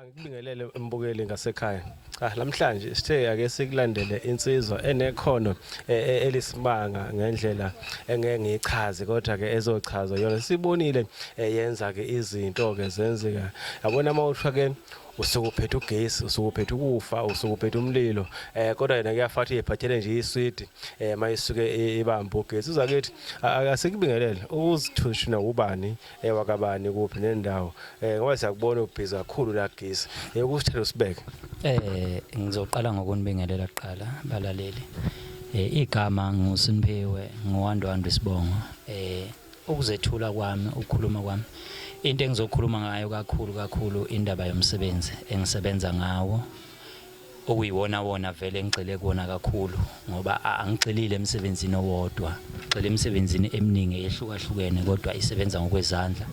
Angikubingelele mbukeli ngasekhaya. Ah namhlanje sithe ake sikulandele insizwa enekhono e, e, elisimanga ngendlela engeke ngichaze kodwa ke ezochaza yona sibonile e, yenza ke izinto ke zenzeka. Yabona mawuthwa ke usukuphethe ugesi usukuphethe ukufa usukuphethe umlilo eh kodwa yena kuyafathi yephathele nje iswidi eh mayisuke ibamba ugesi uzakethi akasikubingelele uzithushina ubani eh wakabani kuphi nendawo eh ngoba siyakubona ubhizi kakhulu la gisi eh kusithela usibeke eh ngizoqala ngokunibingelela kuqala balaleli eh igama ngusiniphiwe ngowandwandwe isibongo eh ukuzethula kwami ukukhuluma kwami into engizokhuluma ngayo kakhulu kakhulu indaba yomsebenzi engisebenza ngawo okuyiwonawona vele engigxile kuwona kakhulu ngoba angigxilile emsebenzini owodwa ngigxile emsebenzini eminingi eyehlukahlukene kodwa isebenza ngokwezandla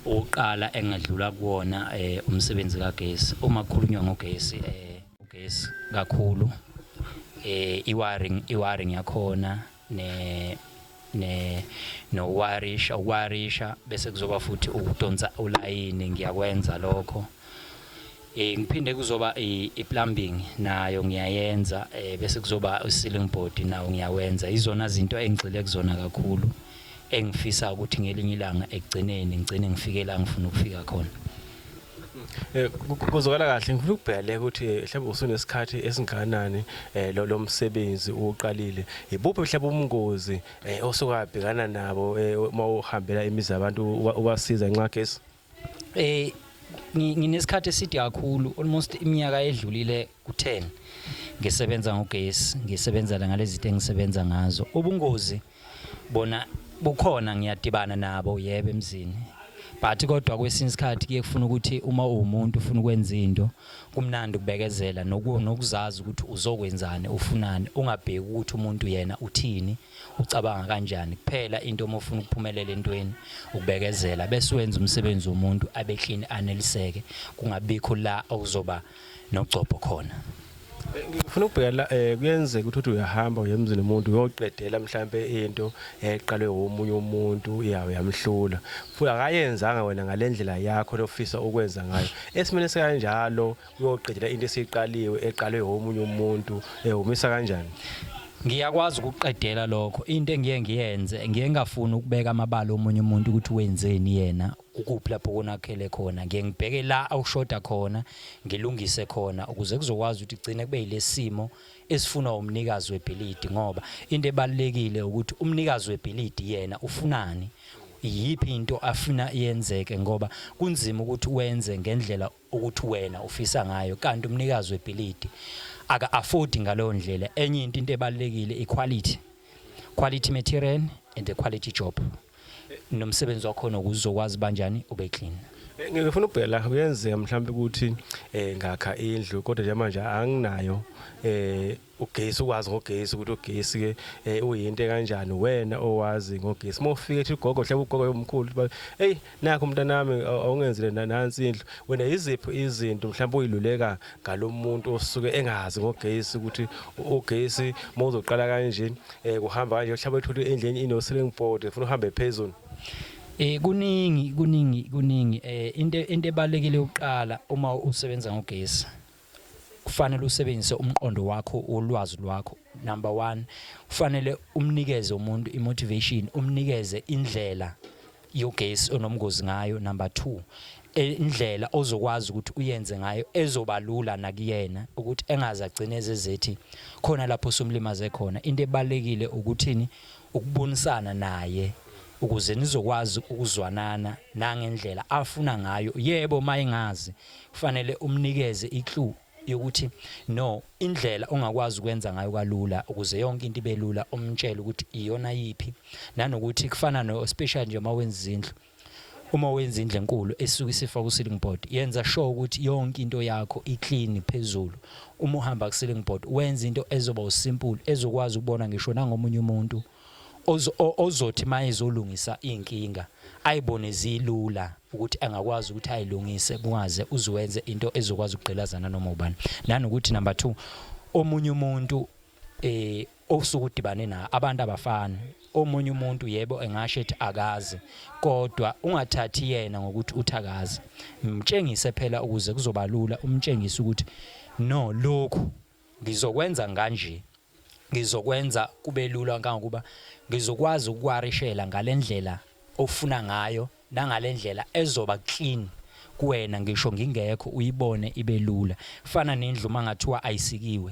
ukuqala engadlula kuwona eh, umsebenzi kagesi uma kukhulunywa ngogesi eh, ugesi kakhulu eh, i-wiring yakhona ne ne nowarisha ukwarisha bese kuzoba futhi ukudonsa ulayini ngiyakwenza lokho eh ngiphinde kuzoba i-plumbing nayo ngiyayenza eh bese kuzoba i-ceiling board nawo ngiyawenza izona zinto engigxile kuzona kakhulu engifisa ukuthi ngelinye ilanga ekugcineni ngigcine ngifike la ngifuna ukufika khona Eh, kuzokala kahle ngifuna ukubhele ukuthi eh, mhlawumbe usunesikhathi esinganani eh, lo lomsebenzi uqalile ibuphi mhlawumbe ubungozi osukabhekana nabo uma uhambela imizi yabantu ubasiza nxa gesi eh nginesikhathi eside kakhulu almost iminyaka edlulile ku10 ngisebenza ngogesi ngisebenzela ngalezi zinto engisebenza ngazo ubungozi bona kukhona ngiyadibana nabo yebo emzini but kodwa kwesinye isikhathi kuye kufuna ukuthi uma uwumuntu ufuna ukwenza into kumnandi ukubekezela nokuzazi ukuthi uzokwenzani ufunani ungabheki ukuthi umuntu yena uthini ucabanga kanjani kuphela into uma ufuna ukuphumelela entweni ukubekezela bese wenza umsebenzi womuntu abe clean aneliseke kungabikho la okuzoba nogcobho khona ngifuna ukubheka la eh kuyenzeka ukuthi uyahamba uyemzini umuntu uyoqedela mhlambe into eqalwe womunye umuntu iyawe yamhlula futhi akayenzanga wena ngalendlela yakho lofisa ukwenza ngayo esimene sekanjalo uyoqedela into esiqaliwe eqalwe womunye umuntu ehumisa eh, kanjani ngiyakwazi ukuqedela lokho into engiye ngiyenze ngiye ngafuni ukubeka amabala omunye umuntu ukuthi wenzeni yena Ukuphi lapho konakele khona? Ngiye ngibheke la awushoda khona, ngilungise khona ukuze kuzokwazi ukuthi kugcine kube yilesimo esifunwa umnikazi webhilidi ngoba into ebalekile ukuthi umnikazi webhilidi yena ufunani? Iyiphi into afuna yenzeke ngoba kunzima ukuthi wenze ngendlela ukuthi wena ufisa ngayo kanti umnikazi webhilidi aka afford ngaleyo ndlela enye into into ebalekile iquality quality material and the quality job nomsebenzi wakho nokuzokwazi banjani ube clean eh, ngifuna ukubhela kuyenzeka mhlawumbe ukuthi eh ngakha indlu kodwa nje manje anginayo eh ugesi ukwazi ngogesi ukuthi ugesi ke eh, uyinto kanjani wena owazi ngogesi uma ufika ethi ugogo mhlawumbe ugogo yomkhulu uthi, hey nakho mntanami aw- awungenzile na- nansi indlu wena yiziphi izinto mhlawumbe uyiluleka ngalomuntu osuke engazi ngogesi ukuthi u- ugesi uma uzoqala kanje eh, kuhamba kanje mhlawumbe uthole indlu enye ino-ceiling board ufuna uhambe phezulu Eh kuningi kuningi kuningi eh into into ebalekile ukuqala uma usebenza ngogesi. Kufanele usebenzise umqondo wakho wolwazi lwakho number one kufanele umnikeze umuntu imotivation umnikeze indlela yogesi onomngozi ngayo number 2 e, indlela ozokwazi ukuthi uyenze ngayo ezobalula nakuyena ukuthi engaze agcine ezezethi khona lapho somlimaze khona into ebalekile ukuthini ukubonisana naye ukuze nizokwazi ukuzwanana nangendlela afuna ngayo yebo mayingazi kufanele umnikeze i-clue yokuthi no indlela ongakwazi ukwenza ngayo kalula ukuze yonke into ibe lula umtshele ukuthi iyona yiphi nanokuthi kufana no special nje uma wenza izindlu uma wenza indle enkulu esuke isifa ku ceiling board yenza sure ukuthi yonke into yakho i clean phezulu uma uhamba ku ceiling board wenza into ezoba usimple ezokwazi ukubona ngisho nangomunye umuntu ozothi uma ezolungisa iy'nkinga ayibone zilula ukuthi angakwazi ukuthi ayilungise kungaze uziwenze into ezokwazi ukugqilaza nanoma ubani nanokuthi number 2 omunye umuntu eh osuke udibane na abantu abafani omunye umuntu yebo engasho ethi akazi kodwa ungathathi yena ngokuthi uthakazi mtshengise phela ukuze kuzobalula umtshengise ukuthi no lokhu Ngizokwenza nganje, Ngizokwenza kube lula kangangokuba ngizokwazi ukukuwarishela ngale ndlela ofuna ngayo nangale ndlela ezoba clean kuwena ngisho ngingekho uyibone ibe lula. Kufana nendlu uma ngathiwa ayisikiwe,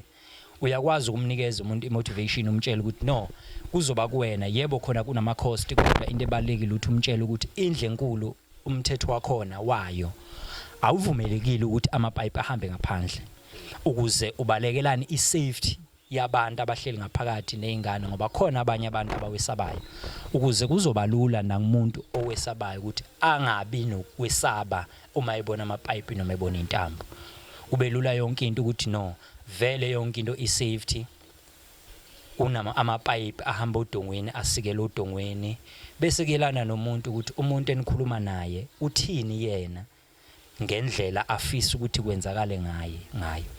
uyakwazi ukumnikeza umuntu i-motivation umtshele ukuthi no, kuzoba kuwena. Yebo khona kunama-cost kodwa into ebalulekile ukuthi umtshele ukuthi indlu enkulu Umthetho wakhona wayo awuvumelekile ukuthi amapayipi ahambe ngaphandle ukuze ubalekelane i-safety yabantu abahleli ngaphakathi nezingane ngoba khona abanye abantu abawesabayo ukuze kuzobalula nakumuntu owesabayo ukuthi angabi nokwesaba uma ebona amapipe noma ebona intambo kubelula yonke into ukuthi no vele yonke into i-safety Kunama amapayipi ahamba odongweni asikela odongweni bese kuyelana nomuntu ukuthi umuntu enikhuluma naye uthini yena ngendlela afisa ukuthi kwenzakale ngaye ngayo.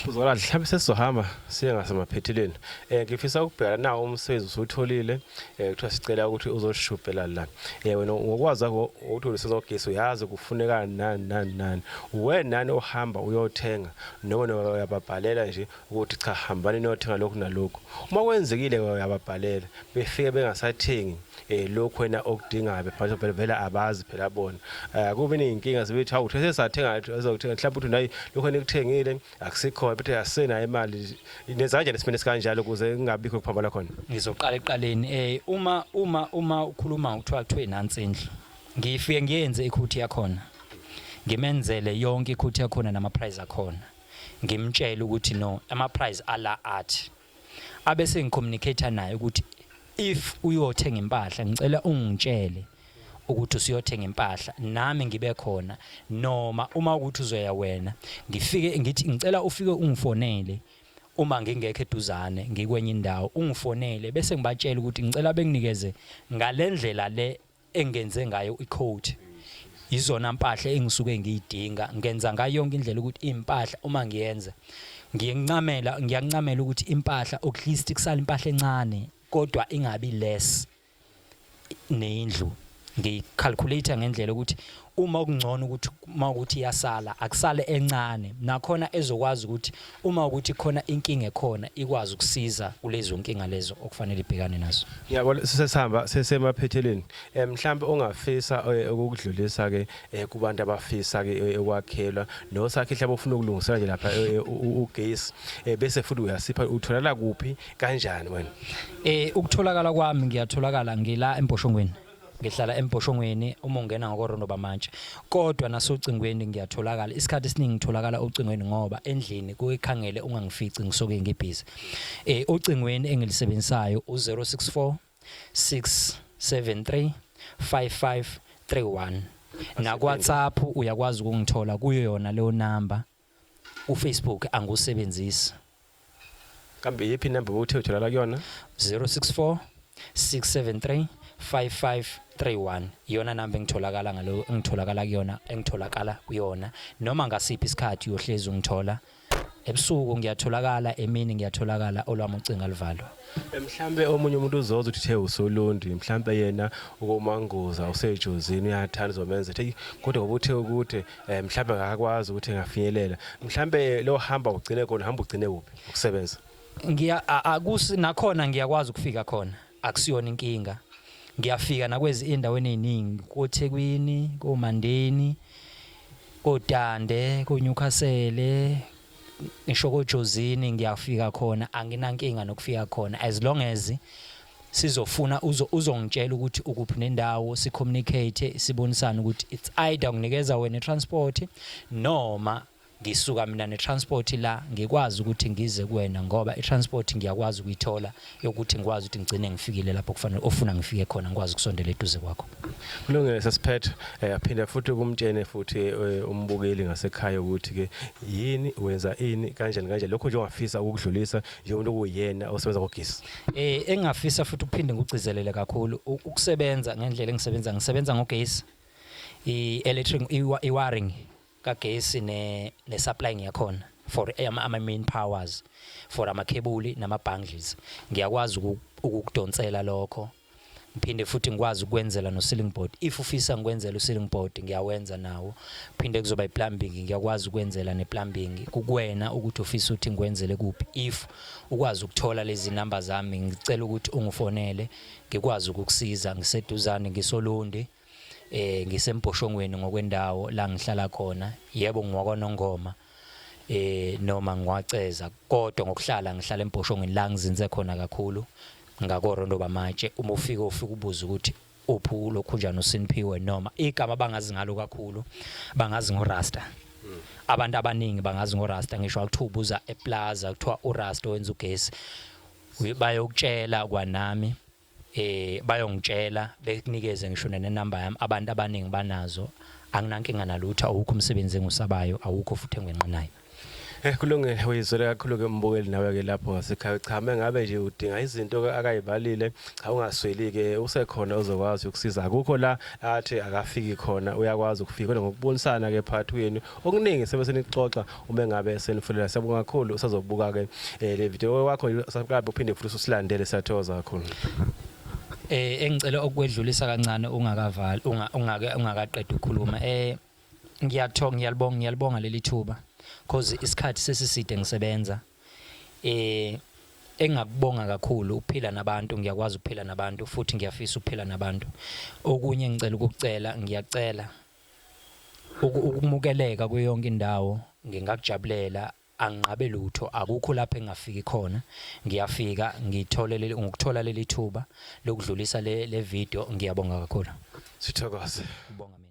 Uzokala mhlawumbe sesizohamba siye ngasemaphethelweni um ngifisa ukubheka nawo umsebenzi usuwutholile um kuthiwa sicela ukuthi uzoshubhela la um wena ngokwazi kwakho ukuthi ulisezogesi uyazi kufuneka nani nani nani uwe nani ohamba uyothenga noma uyababhalela nje ukuthi cha hambani niyothenga lokhu nalokhu uma kwenzekile uyababhalela befike bengasathengi eh lokhu wena okudingayo bebhala phela vela abazi phela bona eh kube inkinga sebethi hawu uthe sathenga azokuthenga mhlawumbe uthi nayi lokho enikuthengile akusikhona bethe asena imali nezanje nesimene sikanjalo kuze kungabikho kuphambana khona ngizoqala eqaleni eh uma uma uma ukhuluma uthiwa kuthiwe nansi indlu ngifike ngiyenze ikhuthi yakhona ngimenzele yonke ikhuthi yakhona nama price akhona ngimtshele ukuthi no ama price ala athi abese ngicommunicate naye ukuthi if uyothenga impahla ngicela ungitshele ukuthi usuyothenga impahla nami ngibe khona noma uma ukuthi uzoya wena ngifike ngithi ngicela ufike ungifonele uma ngingekho eduzane ngikwenye indawo ungifonele bese ngibatshela ukuthi ngicela benginikeze ngalendlela le engenze ngayo icoat yizona mpahla engisuke ngiyidinga ngenza ngayo yonke indlela ukuthi impahla uma ngiyenza ngiyencamela ngiyancamela ukuthi impahla at least kusala impahla encane kodwa ingabi less nendlu ngicalculate ngendlela ukuthi uma kungcono ukuthi uma ukuthi iyasala akusale encane nakhona ezokwazi ukuthi uma ukuthi khona inkinga ekhona ikwazi ukusiza kulezo nkinga lezo okufanele ibhekane nazo ngiyabona sesihamba sesemaphethelweni eh, mhlawumbe ongafisa eh, ukukudlulisa ke eh, kubantu abafisa ke ekwakhelwa nosakhe mhlawumbe ufuna ukulungisela nje lapha ugesi bese futhi uyasipha utholala kuphi kanjani wena eh ukutholakala kwami ngiyatholakala ngila emboshongweni ngihlala embhoshongweni uma ungena ngokorondo bamantshi kodwa nasocingweni ngiyatholakala isikhathi esiningi ngitholakala ocingweni ngoba endlini kuyikhangele ungangifici ngisuke ngibhizi eh ocingweni engilisebenzisayo u064 673 5531 naku WhatsApp uyakwazi ukungithola kuyo yona leyo number ufacebook angiwusebenzisi kambe yiphi inamba bowuthe utholala kuyona 064 673 5531 iyona namba engitholakala ngalo engitholakala kuyona engitholakala kuyona noma ngasiphi isikhathi uyohlezi ungithola ebusuku ngiyatholakala emini ngiyatholakala olwami ucinga livalwa mhlambe omunye umuntu uzoza uthi the usolundi mhlambe yena ukomanguza usejozini uyathanda uzomenza ethi kodwa ngoba uthe ukuthi eh mhlawumbe ngakwazi ukuthi ngafinyelela mhlawumbe lo hamba ugcine khona hamba ugcine kuphi ukusebenza ngiya a- akusi nakhona ngiyakwazi ukufika khona akusiyona inkinga ngiyafika nakwezi endaweni eziningi koThekwini koMandeni koDande koNewcastle ngisho koJozini ngiyafika khona anginankinga nokufika khona as long as sizofuna uzo uzongitshela ukuthi ukuphi nendawo si communicate sibonisana ukuthi it's either nginikeza wena transport noma ngisuka mina ne transport la ngikwazi ukuthi ngize kuwena ngoba i transport ngiyakwazi ukuyithola yokuthi ngikwazi ukuthi ngigcine ngifikile lapho kufanele ofuna ngifike khona ngikwazi ukusondela eduze kwakho kulungile sesiphethe eh, aphinde futhi kumtshene futhi eh, umbukeli ngasekhaya ukuthi ke yini wenza ini kanjani kanjani lokho nje ungafisa ukudlulisa njengomuntu kuyena osebenza ngogesi Eh engafisa futhi ukuphinde ngigcizelele kakhulu ukusebenza ngendlela engisebenza ngisebenza ngogesi i electric i wiring kagesi ne ne supplying yakhona for ama, ama main powers for ama cable nama bundles ngiyakwazi ukukudonsela lokho ngiphinde futhi ngikwazi ukwenzela no ceiling board if ufisa ngikwenzela u ceiling board ngiyawenza nawo phinde kuzoba i plumbing ngiyakwazi ukwenzela ne plumbing kukwena ukuthi ufisa uthi ngikwenzele kuphi if ukwazi ukuthola lezi number zami ngicela ukuthi ungifonele ngikwazi ukukusiza ngiseduzane ngisolundi eh ngisembhoshongweni ngokwendawo la ngihlala khona yebo ngiwakwanongoma eh noma ngiwaceza kodwa ngokuhlala ngihlala embhoshongweni la ngizinze khona kakhulu ngakorondo bamatshe uma ufika ufika ubuza ukuthi uphi ulokhunjana usiniphiwe noma igama bangazi ngalo kakhulu bangazi ngorasta hmm. abantu abaningi bangazi ngorasta ngisho akuthiwa ubuza eplaza kuthiwa urasta owenza ugesi bayokutshela kwanami eh bayongitshela bekunikeze ngisho nenumber yami abantu abaningi banazo anginankinga nalutho awukho umsebenzi engusabayo awukho futhi engwenqinayo Eh kulungile uyizwele kakhulu ke mbukeli nawe ke lapho ngasekhaya cha mengabe nje udinga izinto akayibalile cha ungasweli ke usekhona ozokwazi ukusiza akukho la athi akafiki khona uyakwazi ukufika ngokubonisana ke phathweni okuningi sebe senixoxa uma engabe esenifulela siyabonga kakhulu usazobuka ke eh, le video wakho subscribe uphinde futhi usilandele siyathokoza kakhulu eh engicela ukwedlulisa kancane ungakavala ungake ungakaqeda ukukhuluma eh ngiyathoka ngiyalibonga ngiyalibonga leli thuba because isikhathi sesiside ngisebenza eh engakubonga kakhulu ukuphila nabantu ngiyakwazi ukuphila nabantu futhi ngiyafisa ukuphila nabantu okunye ngicela ukukucela ngiyacela Ukumukeleka kuyo yonke indawo ngingakujabulela, anginqabe lutho, akukho lapho engingafiki khona. Ngiyafika ngithole leli ngokuthola leli thuba lokudlulisa le le video ngiyabonga kakhulu. Sithokoze. Ubonga mina.